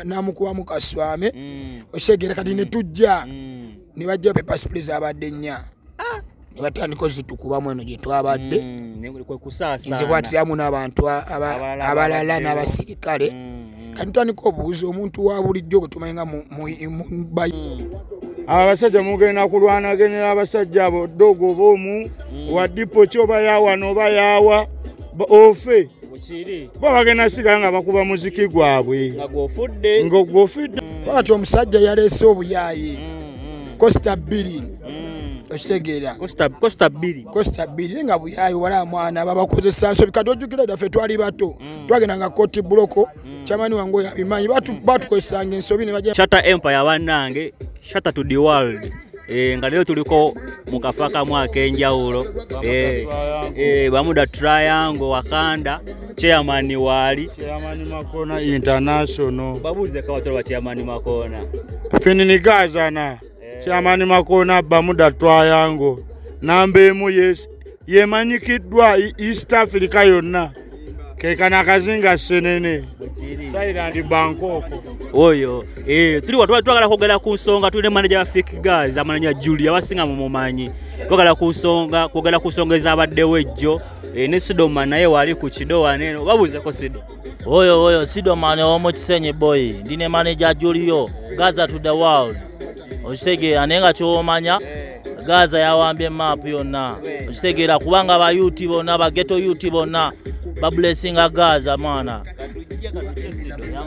namukubamu kaswame mm. okitegera kati mm. netujja mm. nebajjawo pepasipuli zabadde nnya ah. nebatandika ozitukubamu eno gyetwabadde nzikwatiramu n'abantu abalala n'abasirikale kati tandika obuuzi omuntu wa bulijjo gwetumanyi nga mubayi abo abasajja mugenda kulwanagenera abasajja abo dogo oba omu wa dipo ki oba yawano oba yawa ofe bo bagenda sigala nga bakuba muziki gwabwe ngogwofudde mm. bati omusajja yaleese obuyaaye mm, mm. kosita bbiri okitegeera kosita bbiri kosita bbiri naye nga buyaaye wala mwana babakozesa nsobi kati ojjukira daffe twali bato twagenda nga koti buloko mm. chamani wangu ya bimanyi batu mm. batu kwa sangi nsobi ni wajia shata empire wanange shata to the world e, nga leo tuliko mukafaka mwaka enjawulo e, eh, e, eh, bamuda triangle wakanda chairman wali chairman makona international babuze kawa tolwa chairman makona fini ni gaza na kyamani eh. makoona bamuda twayango namba emu yes yemanyikiddwa e-, east africa yonna kekana akazinga senene sairandi bankoko oyo eh, tuliwa twagala kwogera ku nsonga tuli ne manaja wa fik gas amananya julia wasinga mumumanyi twagala ku nsonga kwogera ku nsonga ezabaddewo ejjo eh, ne sidoma naye wali ku kidowa neno babuuzeko sidoma Oyo oyo Sidomani ow'omu Kisenyi boyi ndi ne maneja Julio Gaza to the world okitegeera naye nga ky'omanya Gaza yawambye maapu yonna okitegeera kubanga ba UT bonna ba ghetto UT bonna babulesinga Gaza mwana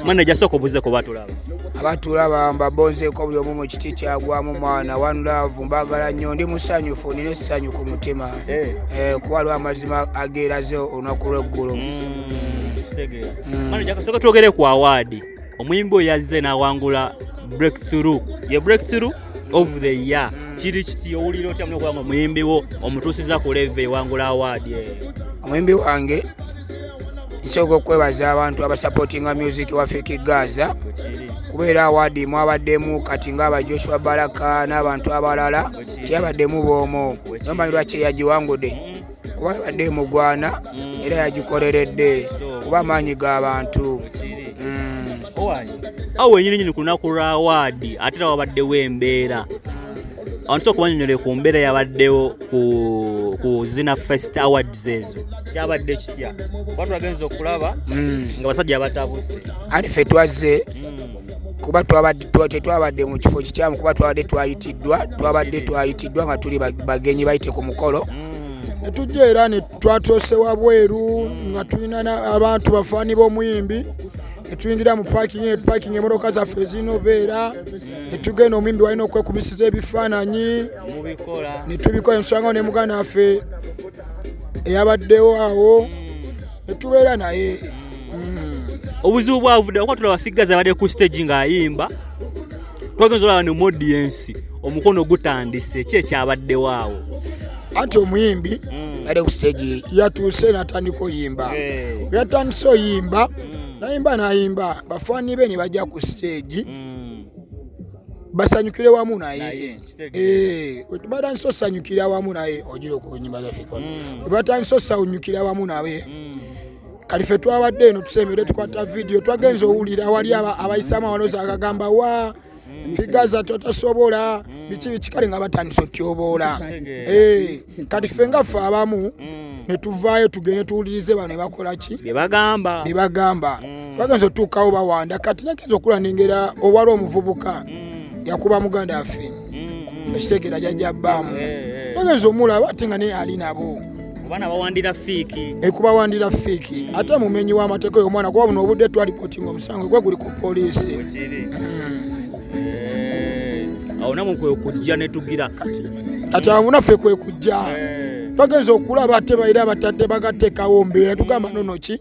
maneja sooka obuzeeko batulaba abatulaba mbabonzeeko buli omu mu kiti kyagwamu mwana one love mbagala nnyo ndi musanyufu nina essanyu ku mutima eh. Eh, kuba lwamazima ageeraze olunaku lw'eggulu mm. kitegeera Mm. manager kasooka twogere ku awaadi omuyimbi oyo yazze n'awangula breakthrough ye breakthrough of the year kiri kiti owulira otya muna okuba nga omuyimbi wo omutuusiza ku leve ewangula awaadi eyo omuyimbi wange nsooka okwebaza abantu abasapotinga music wa fiki gaza Bwekiri. kubeera awaadi mwabaddemu kati ngaaba joshua baraka n'abantu abalala teyabaddemu boomu nombanyi lwaki eyagiwangude kuba yabadde emugwana mm. era yagikoleredde kuba amaanyi g'abantu mm. awo wenyini nyini ku lunaku lwa waadi ate era wabaddewo embeera abantu soka banyonyole ku mbeera yabaddewo ku zina fest awards ezo kyabadde kitya kuba tulagenza okulaba mm. nga basajja batabuse ate fe twazze kuba tetwabadde mu kifo kikyamu kuba twabadde twayitiddwa twabadde twayitiddwa nga tuli bagenyi bayite ku mukolo mm. netujja era netwatose wabweru nga tulina abantu bafaani b'omuyimbi netuyingira mu pakingi netupakinga emotoka zaffe ezinobeera netugenda omuyimbi walina okwekubisiza ebifaananyi netubikola ensonga ne muganda waffe eyabaddewo awo mm. netubeera naye mm. obuzibu bwavudde akuba tulaba figure zabadde ku stage ng'ayimba twagenza olaba ne modiensi omukono gutandise ki ekyabaddewo awo anti omuyimbi mm. ali ku stage yatuuse natandika oyimba yatandise oyimba mm. nayimba nayimba bafaani be ne bajja ku stage basanyukire wamu naye eh, batandise osanyukira wamu naye ogira okunyimba zafika webatandise osanyukira wamu naye mm. kati fe twabadde eno tusembere tukwata vidiyo twagenza owulira awali abayisaamu abanoza agagamba wa figaza totasobola biki biki kale nga batandisa otyoboola eh, kati fe nga fe abamu mm. netuvaayo tugende tuwulirize bano ebakola ki bebagamba bebagamba mm. bagenza otuukawo bawanda kati nagenza okula nengera owali omuvubuka mm. yakuba muganda afe ekitegera jajja bbaamu eh, eh. bagenza omulaba ate nga naye ali nabo kubana bawandira fiiki ekubawandira fiiki mm. ate mumenyi w'amateeka oyo omwana kuba buno obudde twalipotinga omusango gwe guli ku poliisi awo namwe kwekujja netugira kati awo naffe kwekujja eh. bagenza okulaba ate baire abatadde bagatekawo mbeera tugamba nonoki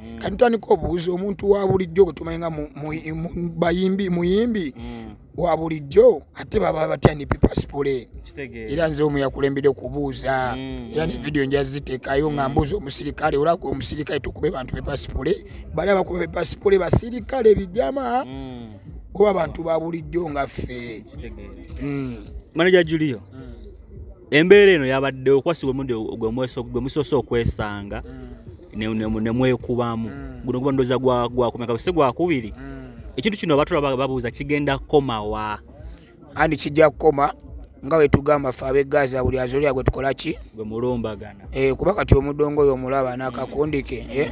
mm. kati tandika obuuza omuntu wa bulijjo gwe tumanyi nga bayimbi muyimbi mm. wa bulijjo ate baba batya ne pipasipule era nze omu yakulembedde okubuuza mm. era ne vidiyo nja ziteekayo nga mbuuza omusirikale olabga omusirikale tukube bantu pipasipule bali abakuba pipasipule basirikale bijama oba bantu ba bulijjo nga ffe maneja julio embeera eno yabadde okwasi gwe musoose okwesanga mm. nemwekubamu mm. guno guba ndoza gwakumeka si gwakubiri mm. ekintu kino batula babuuza kigenda kukomawa andi kijja kukoma nga wetugamba fe abegaza buli azolya gwetukolaki gwe mulumbagana eh, kuba kati omudongo oyo omulaba nakakundike eh?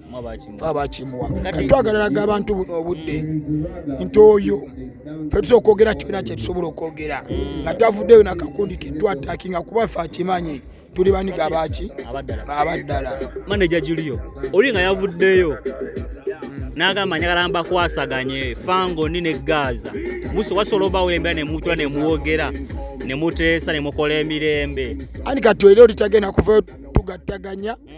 abakimuwa kati twagalalaga abantu buno obudde nti oyo fe tusa okwogera kyona kyetusobola okwogera mm. nga tavuddeyo nakakundi ketwatakinga kuba fe akimanyi tuli baniga baki abaddala maneja julio oli nga yavuddeyo nagamba njagala mbakwasaganye fango ni ne gaza muso wasobola obawo embeera nemutula nemwogera nemuteesa nemukola emirembe ani kati era oli tagenda kuvayo tugattaganya mm.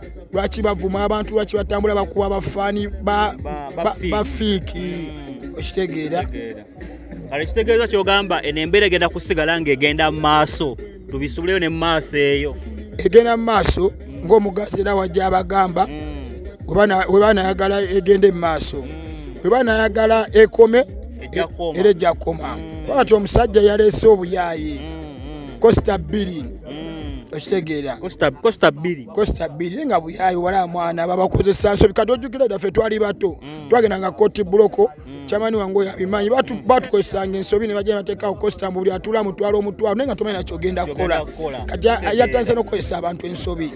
lwaki bavuma abantu lwaki batambula bakuba bafaani bafiiki mm. okitegeera kale kitegeeza kyogamba eno embeera egenda kusigala ngaegenda mu maaso tubisubuleyo ne mumaaso eyo egenda mu maaso ngaomugazi era wajja abagamba mm. webanayagala egende mu maaso mm. webanayagala ekome era ejja kukoma wakati omusajja yaleese obuyaayi kosita bbiri okitegeera kosita bbiri kosta bbiri nga buyayi wala mwana babakozesa nsobi kati ojjukira dda ffe twali bato mm. twagenda nga koti buloko mm. kyamani wange oyo abimanyi mm. batukozesanga ensobi ne bajja nebateekawo kosta mbu buli atula mutwala omutwalo naye nga tomanyi nakyo ogenda kukola kati yatandise n'okukozesa abantu ensobi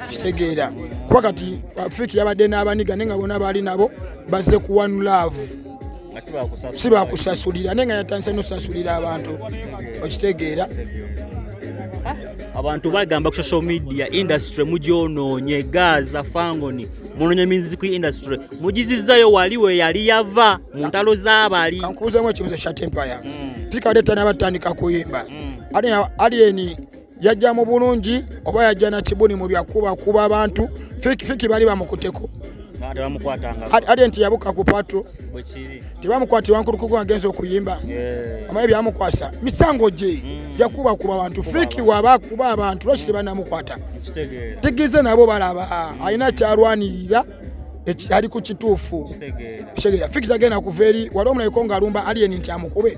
kitegeera kuba kati fiki yabadde n'abaniga naye nga bona baali nabo bazze kuwanulaavu si bakusasulira naye nga yatandise nosasulira abantu okitegeera ah, abantu bagamba ku social media industry mugyonoonye gaza fangoni munonye miziku industry mugizizayo wali we yali yava mu ntalo z'abali kankuuzemu ekibuzo kya tempaya mm. tikadetanabatandika kuyimba mm. ali eni yajja mu bulungi oba yajja na kibuni mu byakuba kuba abantu fiki fiki bali bamukuteko ate nti yabuka ku patro tebamukwati wankulukuku agenza okuyimba amaye byamukwasa misango gye mm. jakuba kuba abantu fiki waba kuba abantu lwaki tebanamukwata tigize nabo balaba alina kyalwanirira ali ku kituufu kitegeera fiki tagenda kuva eri wali omulaiko ng'alumba aliyeni nti amukube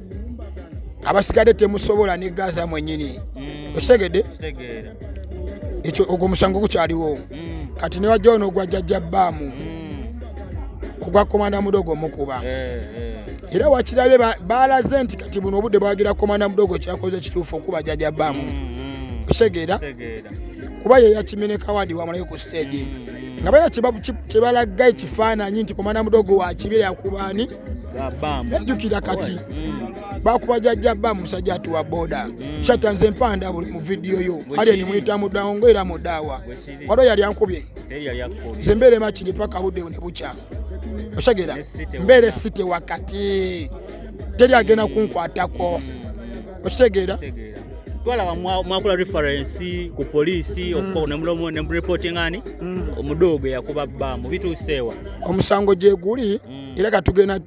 abasigadde temusobola ne gaza mwenyini mm. okitegedde ekyo ogwo omusango gukyaliwo mm. kati newajja ono ogwa jajja baamu mm. ogwa komanda mudogo mukuba eh, eh. era wakirabye balaze nti kati buno obudde bwagira komanda mudogo kyakoze ekituufu okuba jajja baamu okitegera kuba yeyakimenekawadi wamulayo ku stadium nga balina kyebalaga ekifaananyi nti komanda mudogo wakibira yakubaani najjukira kati mm. bakuba jajja ba musajja atuwa boda mm. shata nze mpanda buli mu vidiyo yo ali enimuyita mudawo nga era mudawa waliwo yali ankubye nze mbeera emakiri paka budde ne bukya osegera mbeera esite wakati teri agenda kunkwatako mm. okitegeera twalaba mwakula referensi ku poliisi mm. okukonemulomu ne murepotingani mm. omudogo yakuba bbamu bituuseewa omusango gyeguli mm. era katugenda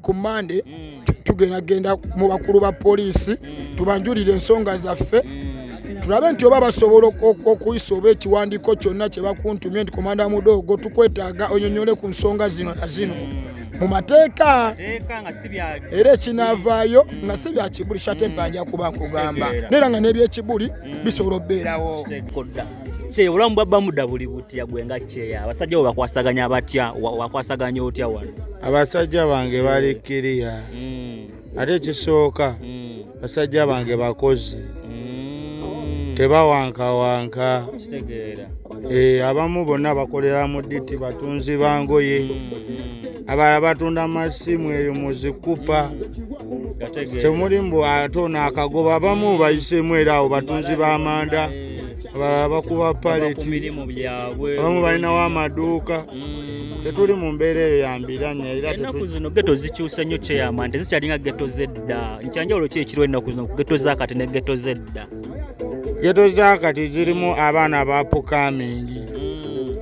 ku mande mm. tugenda genda mu bakulu ba poliisi mm. tubanjulire ensonga zaffe mm. tulabe nti oba basobola okuyisa oba ekiwandiiko kyonna kye bakuntumye nti komanda mudoogo tukwetaaga onyonyole ku nsonga zino na zino mu mateeka era ekinaavaayo nga si bya kibuli shate mpanja kuba nkugamba naera nga n'ebyekibuli bisobola okubeerawo kye obulamu bwa bamuda buli butya gwe nga kyeya abasajja bo bakwasaganya batya wakwasaganya otya wano abasajja bange bali kiriya mm. ate ekisooka mm. basajja bange bakozi mm. tebawankawanka eh, abamu bonna bakolera mu diti batunzi bangoye abalala batunda amasimu eyo muzikupa temuli mbu ate ono akagoba abamu bayisemu era awo batunzi b'amanda abalala bakuba paleti abamu balinawo amaduuka mm. tetuli mu mbeera eyo yambiranya eraenaku zino geto zikyuse nnyo kyeyamanda zikyalinga geto zedda nkyanjawulo ki ekiriwo ennaku zino ku geto zakati ne geto zedda geto zakati zirimu abaana bapukamingi mm.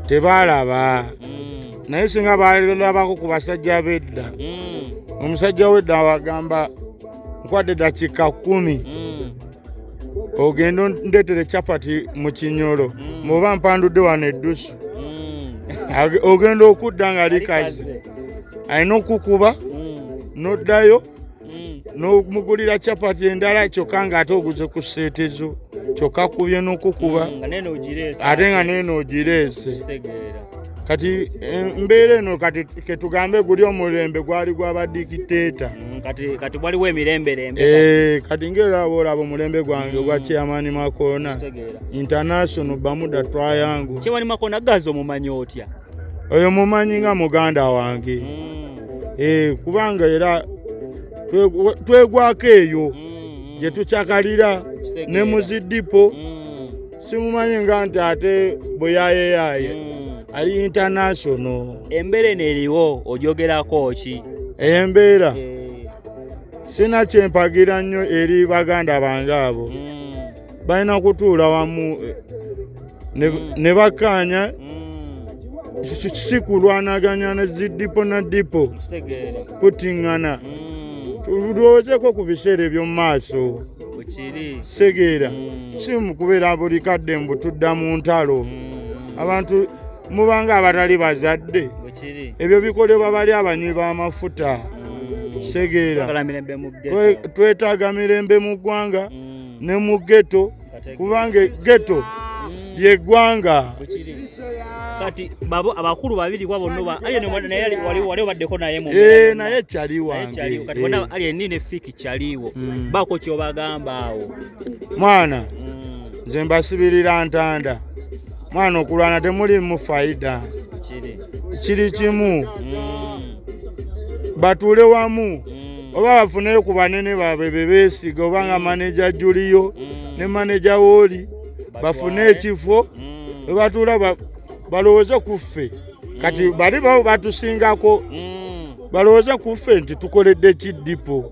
tebalaba mm. naye singa balabako ku basajja bedda mm. omusajja wedda awagamba nkwadde dakika kumi mm. ogenda ndetere chapati mu kinyolo muba mpandudde wano eddusu ogenda okudda nga likazi alina okukuba noddayo mm. nomugulira chapati endala kyokka nga ate oguze ku seete zo kyokka kubye nokukuba mm, ate nga neeno ogireese kati eh, mbeera eno kati ketugambe guli omulembe gwali gwabadikiteeta mm, kati waliwo emiremberembe eh, kati ngaera aba olaba omulembe gwange ogwa mm. chairmani makona international bamuda twayangu chairmani makona gaza omumanyi otya oyo mumanyi nga muganda wange mm. eh, kubanga era twegwako eyo mm, mm. gye tukyakalira ne muzidipo mm. simumanyi nga nti ate bweyayeyaye mm. ali international embeera eno eriwo ojogerako ki embeera eh. sina kyempagira nnyo eri baganda bange abo mm. balina kutuula wamu eh, mm. ne bakkaanya mm. si kulwanaganya ne zidipo na dipo kutiŋŋana mm. tulowoozeko ku biseera eby'omu maaso segeera si mu kubeera buli kadde mbu tudda mu ntalo abantu mubanga abatali bazadde ebyo bikolebwa bali abanywi b'amafuta segeera twetaaga mirembe mu ggwanga ne mu geto kubanga geto lyegwanga kati babo abakulu babiri kwa bonno ba ayo naye wali wali baddeko naye mu eh naye chali wange chali kati bona eh. ali nini fiki chaliwo mm. bako kyo bagamba awo mwana mm. nze mbasibirira ntanda mwana okulwana temuli mu faida kiri kimu mm. batule wamu mm. oba bafuneyo ku banene baabwe bebeesiga oba nga maneja juliyo mm. ne maneja wooli bafune ekifo mm. webatuula balowooze ku ffe kati mm. bali babo batusingako balowooze ku ffe nti tukoledde ki dipo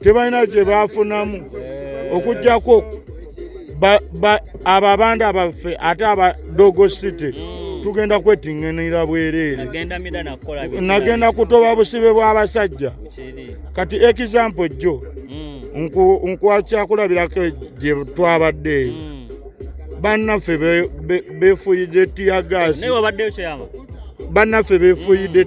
tebalina kye baafunamu okujjako abo abandi abaffe ate aba dogo city mm. tugenda kwetinganira bwereere nagenda kutoba busibe bw'abasajja kati ekizampo jjo mm. nkwakyakulabirako gye twabadde eyo mm. bannaffe befuyidde tiyagaasi bannaffe befuyidde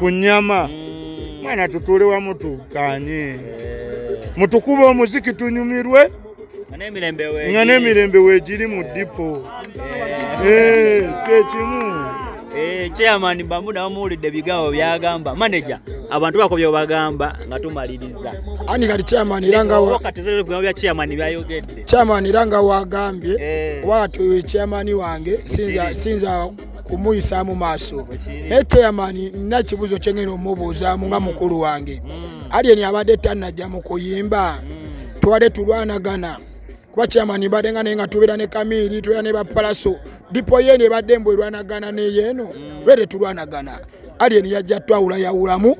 ku nyama mm. mwana tutule wamu tukanye eh. mutukube omuziki tunyumirwe nga n'emirembe wegiri mu dipo eh. eh, kyekimu chairman bamuda bamuwulidde bigawo byagamba manaja abantu bako byobagamba nga tumaliriza ani kati chairman era ngabya chairman byayogedde chairman era nga wagambye oba kati chairman wange sinza kumuyisaamu maaso naye teyamani nina kibuzo kyengenda omubuuzaamu nga mukulu wange mm. aliyeni abadde tanajja mu kuyimba mm. twade tulwanagana kuba kyamani mbadde nga naye nga tubeera ne kamiiri tubeera ne bapalaso dipo yeeno ebadde mbu erwanagana neyeeno mm. lwe tetulwanagana aliyeni yajja twawulayawulamu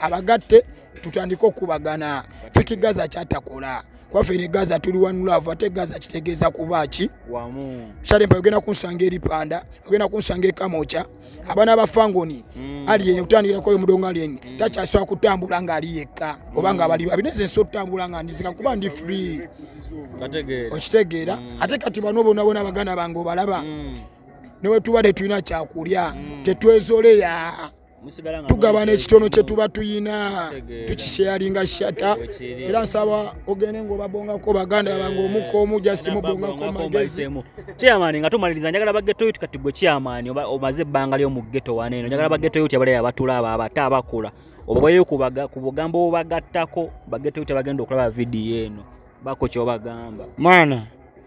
abagatte tutandike okubagana fiki gaza kyatakola kwaffe ne gaza tuli wanulavu ate gaza kitegeeza kuba ki shalempa ogenda kunsanga eripanda ogenda kunsanga ekamoca abaana ba fangoni mm. ali yenye kutandikirakoyo mudongo ali yenye mm. takyasobola kutambula nga ali yekka oba nga bali babi neze nsi okutambula nga ndizika kuba ndi free okitegeera mm. ate kati bano bonabona baganda bange obalaba newetubadde tulina kyakulya tetwezoleya tugabana ekitono kyetuba tuyina tukisheyalinga shata era nsaba ogende ngaobabongako baganda bange omuka omu jasimubongako magezi chairman nga tumaliriza njagala bagetoyo ti kati gwe chairman omaze ebbanga lyomugeto wana eno njagala bagetoyo ti abaleyo abatula abo abata abakula obabayo ku bugambo obubagattako bagetoyo ti abagenda okulaba vidiyo eno bako kyobagamba maana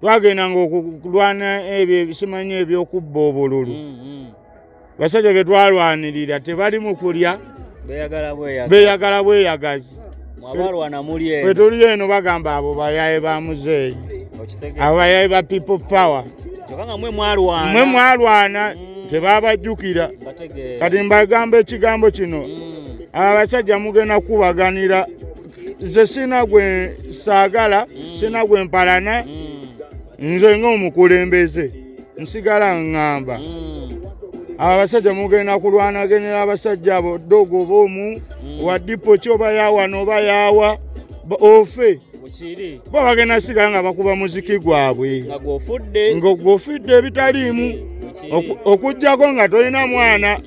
twagendanga okulwana ebyo ebisimanyi ebyokubba obululu mm, mm. basajja betwalwanirira tebali mukulya beyagala bweyagazi fetuli eno bagamba abo bayaye ba muzeeyi abo bayaye ba people power mwe mwalwana mm. tebabajjukira kati mbagamba ekigambo kino abasajja mugenda kubaganira nze sina gwe saagala mm. sina gwe mpalana mm. nze ngaomukulembeze nsigala ngamba mm. abo abasajja mugenda kulwanagenera abasajja abo dogo oba omu wa dipo ki oba yawa nooba yawa ofe bo bagenda sigala nga bakuba muziki gwabwe ngogwofudde ebitaliimu okugjako nga tolina mwana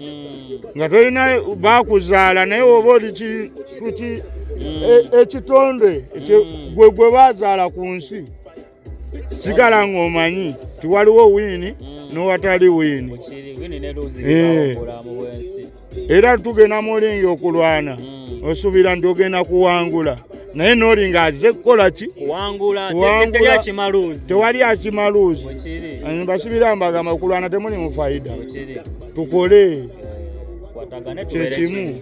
nga tolina bakuzaala naye oba oliki nti mm. e, ekitonde mm. gwe gwe bazaala ku nsi sigala ng'omanyi ti waliwo wiini mm. n'owatali wiini eh. era tugenda mulingi okulwana osuubira nti ogenda kuwangula naye noli nga aze kukola ki tewali akimaluuzi mbasibira mbagamba okulwana temuli mufaida tukole kyekimu